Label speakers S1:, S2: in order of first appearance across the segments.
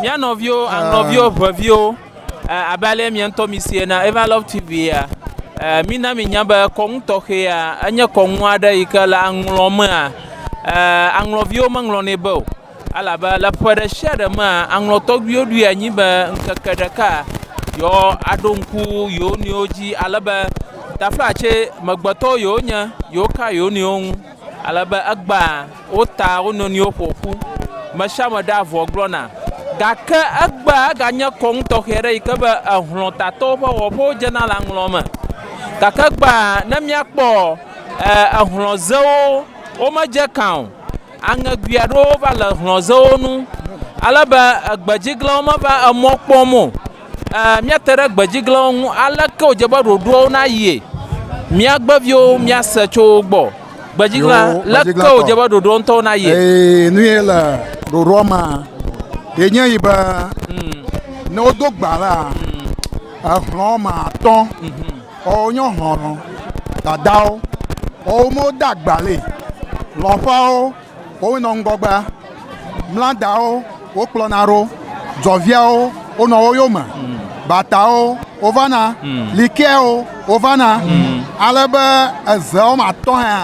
S1: Mía nɔviwo, aŋlɔviwo, ŋɛviwo, abe ale mia ŋutɔ mi si ena Eva Love TV ya, mina mi nya be kɔnu tɔxɛ ya enye kɔnu aɖe yi ke le aŋlɔ mea, aŋlɔviwo me ŋlɔ nɛ be o. Elabe le ƒe ɖe sia ɖe mea, aŋlɔ tɔgbuiwo ɖoe anyi be ŋkeke ɖeka yewo a ɖo ŋku yewo nɔewo dzi. Alebe taƒea tse, me gbe tɔwo yewo nye, yewo ka yewo nɔewo ŋu. Ale be egbea wo ta wo nɔnɔewo ƒo ƒu, me sia me ɖea avɔ gblɔna. Gake egbea eganye kɔnu tɔxɛ aɖe yi ke be ehlɔ̃tatɔwo ƒe wɔƒewo dzena le aŋlɔ̃ me. Gake egbea ne míakpɔ ehlɔ̃zewo, womedze ekã o. Aŋegoe aɖewo va le ehlɔ̃zewo ŋu ale be egbedziglãwo meva emɔ kpɔm o. Ɛɛ, míate ɖe gbedziglãwo ŋu. Aleke wòdze be ɖoɖoawo nayie? Míagbe viwo míase tso wo gbɔ. Gbedziglã, Yoo, leke gbedziglãtɔ. wòdze be ɖoɖoawo ŋutɔwo nayie? Ee, nu ye le
S2: ɖoɖoa mea, ye nye yi be ne wodo gba la, exlɔ̃ woame atɔ̃ woawo wonye xlɔ̃lɔ dadawo. Woawo me wode agba le, xlɔ̃ƒeawo. Woawoe nɔ ŋgɔgbea, mla dawo wokplɔna ɖo, dzɔviawo wonɔ wo yome, batawo wovana, likeawo wovana, ale be eze wɔme atɔ̃ hea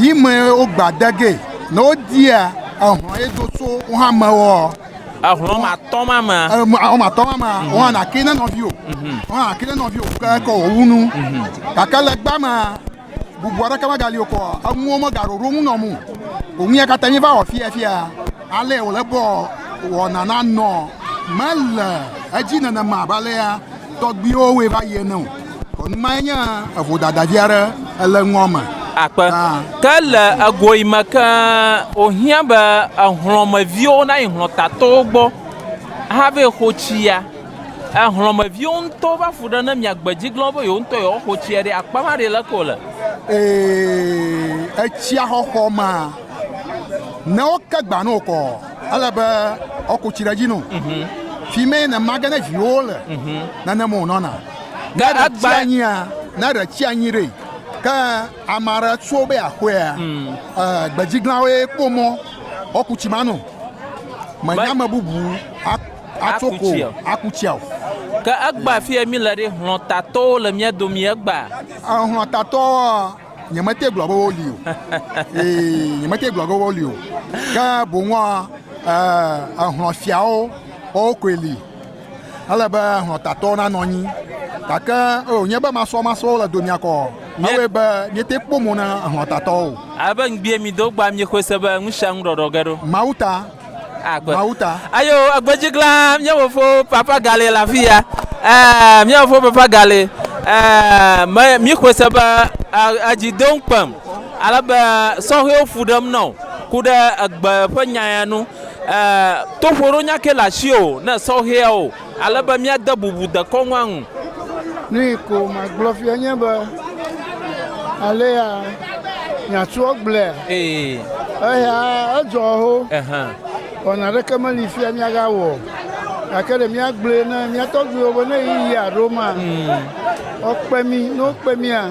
S2: yi me wogbea de ge ne wodia ehlɔ̃ ye do tso wo hã me ɔ. Ehlɔ̃ wɔme atɔ̃
S1: ma mea. Ehlɔ̃ wɔme atɔ̃ ma mea, wo
S2: hã nàkee ne nɔviwò. Wo hã nàkee ne nɔviwò ke kɔ wò wu nu. Gake le egbea mea. bubu aɖeke megali o kɔ enuwo megaɖo ɖo ŋu nɔm o ŋu ya katã mi va wɔ fia fia ale wòle bɔ wɔna na nɔ mele edzi nenema abe alea tɔgbuiwo wɔe va yi ene o kɔnu ma nye evodadavi aɖe ele ŋua me. akpe
S1: ke le egoyi me ke wòhiã be ehlɔ̃meviwo nayi hlɔ̃tatowo gbɔ hafi xo tsi ya. Ehlɔ̃meviwo ŋutɔ va fu ɖe ne mia gbe dzi glɔ̃ be yewo ŋutɔ yewoa xo tsia ɖi akpa ma ɖi leke wòle. Ee,
S2: etsia xɔxɔ ma ne wo ke gba no kɔ ele be wo ko tsi ɖe dzi no. Mhm. Fi me ne mage ne viwo le mhm. nane mo nɔna. Ne ɖe tsi
S1: anyi a, ne ɖe
S2: tsi anyi ɖe ke amara tso be akoea, mm. eh, gbe dzi glɔ̃ wo kpɔ mɔ wo ku tsi ma no. Menya me bubu Atso ko tsia o. Aku tsia o. Ke egbea
S1: fi ye míle ɖe, hlɔ̃tatɔwo le mía domi egbea? Hlɔ̃tatɔwoa,
S2: nyemete gblɔ be woli o. Ee, nyemete gblɔ be woli o. Ke boŋua, hlɔ̃fiawo, woawo koe li. Ele be hlɔ̃tatɔwo nanɔ anyi. Gake wònye be masɔmasɔwo le domea kɔ awɔe be míete kpɔ mo na hlɔ̃tatɔwo o. Ale be ŋgbie mido
S1: gbɔa, miexɔe se be nusianu ɖɔɖɔ ge ɖo. Mawu ta.
S2: agbe. Mawu ta.
S1: Ayo agbe dzi glã mía fofo papa gale le afi ya. Ɛɛ mía fofo papa gale. Ɛɛ me mi xɔe se be edzi do ŋkpem. Ale be sɔhɛwo fu ɖem nɔ ku ɖe egbe ƒe nya ya nu. Ɛɛ toƒo ɖo nya ke le asi o ne sɔhɛwo. Ale be míade bubu dekɔnua ŋu. Nui
S3: ko magblɔ fia nye be, alea miatsɔ gblɔe. Ee. Eya edzɔ ho. Ehan. Wɔna aɖeke meli fia miagawɔ o. Gake ɖe míagblɔe na mía tɔgbuiwo be ne ɣeyiɣia ɖo ma, mm. woakpe mí. Ne wokpe mía,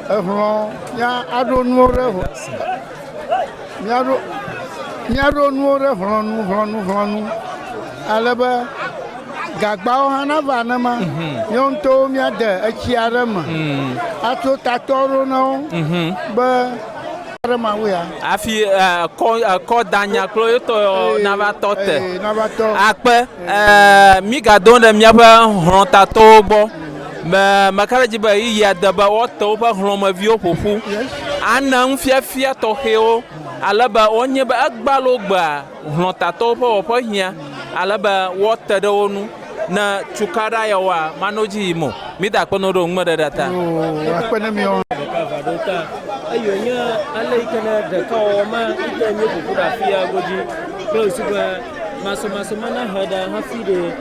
S3: ehlɔ̃ ya aɖo nuwo ɖe ho. Míaɖo, míaɖo nuwo ɖe hlɔ̃nu, hlɔ̃nu, hlɔ̃nu, ale be gagbawo hã nava nenema. Mhm. Míawo ŋutɔwo míade etsi aɖe me mhm. ato tatɔ ɖo na wo mhm. be aɖe ma wo ya.
S1: Afi eh, kɔ eh, kɔ danya kple yetɔ eh, nava tɔ te. Nava tɔ. Akpe. Mígadon ɖe míaƒe hlɔ̃tatɔwo gbɔ. Me, meka ɖe edzi be ɣeyiɣia de be woate woƒe hlɔ̃meviwo ƒo ƒu ana nufiafia tɔxɛwo ale be wonye be egbea loo gbea hlɔ̃tatɔwo ƒe wɔƒe hiã ale be woate ɖe wo ŋu ne cukaɖa yawoa manɔ edzi yim o. Mída akpe na wo ɖe wo ŋumeɖeɖea ta. Oo, akpe na miawo
S3: hã. ɖeka va ɖo ta eye wònye
S4: ale yi ke ne ɖekawɔwɔ ma yi ke míeƒo ƒu ɖe afia godzi kple wòsi be masɔmasɔ ma nahe ɖa hafi ɖee.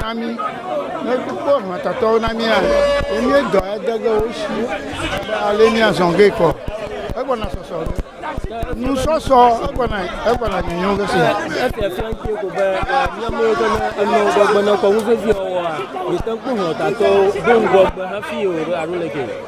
S3: Na mí. Ne kpɔ hlɔ̃tatɔwo na mía, ye míedɔ ade ge wo shi abe ale míazɔ ge kɔ. Egbɔna sɔsɔ ge. Nu sɔsɔ egbɔna egbɔna nyonyo ge se. Esi efia ŋuti
S4: ko be míamewo ke ne enɔ ŋgɔgbe ne kɔ ŋuvevi wɔwɔa, mìte ŋu kpɔ hlɔ̃tatɔwo do ŋgɔgbe hafi o ɖo alo leke?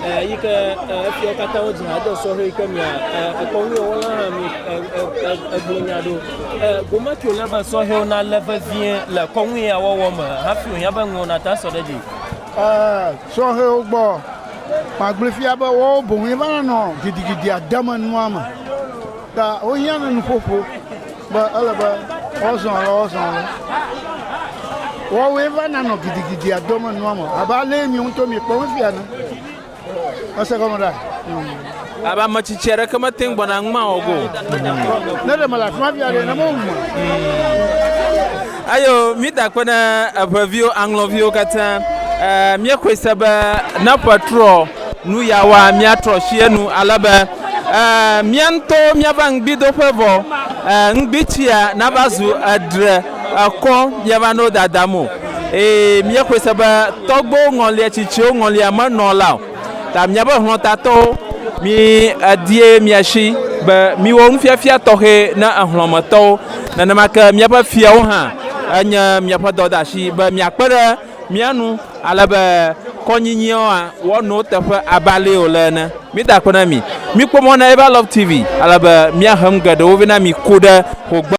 S4: Eyike efiawo katã wodzi ha de sɔhɛ yike mia ekɔnuwɔwɔla hã mi egblɔ nya ɖo. Gome tso le be sɔhɛwo na le vevie le kɔnu ya wɔwɔ me hafi wonya be ŋuwo na ta sɔ ɖe dzi.
S3: Sɔhɛwo gbɔ magblɔ fia be wowo boŋ va nɔ gidigidi ademe nua me ta wohiã ne nuƒoƒo. Be ele be woazɔ alɔ woazɔ alɔ. Woawoe va nanɔ gidigidia dom enua me abe alee miwo ŋutɔ miekpɔ wo fia ene. Ese gɔme ɖa? Mm. Abe
S1: ame tsitsi aɖeke mete ŋu gbɔna ŋuma wɔ go. Ne ɖe
S3: mele afi ma fia ɖe ne mewum. Mm. Ayo
S1: mida kpe ne eʋeviwo aŋlɔviwo katã. Eh, míexɔe se be ne ƒe trɔ Nu ya wa míatrɔ sie nu ale be eh, mía ŋutɔwo míava ŋugbidoƒe vɔ eh, ŋugbitsia nava zu edre ekɔ míava no dadam o. Eye míexɔe se be tɔgbewo ŋɔlia tsitsiwo ŋɔlia menɔ la o. Ta míaƒe hlɔ̃tatɔwo, mi edie miasi be miwɔ nufiafia tɔxɛ na ehlɔ̃metɔwo. Nenema ke míaƒe fiawo hã enye miaƒe dɔdeasi be miakpe ɖe Mía nu, ale be kɔnyinyiɔ a wɔ nuwo teƒe abe alee wòle ene. Mí da akpe na mi. Mí kpɔ mɔ na Eva Love TV, ale be mía he nu geɖewo vɛ na mi ku ɖe ho gbe.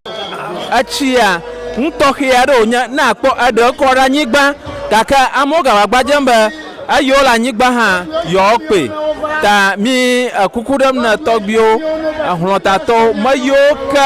S1: Etsia nu tɔxɛ aɖe wònye ne àkpɔ eɖe kɔ ɖe anyigba, gake amewo gava gbadzem be eyiwo le anyigba hã yewoa kpɔe. Ta mí kuku ɖem ne tɔgbiwo, hlɔtatɔwo, me yiwo ke.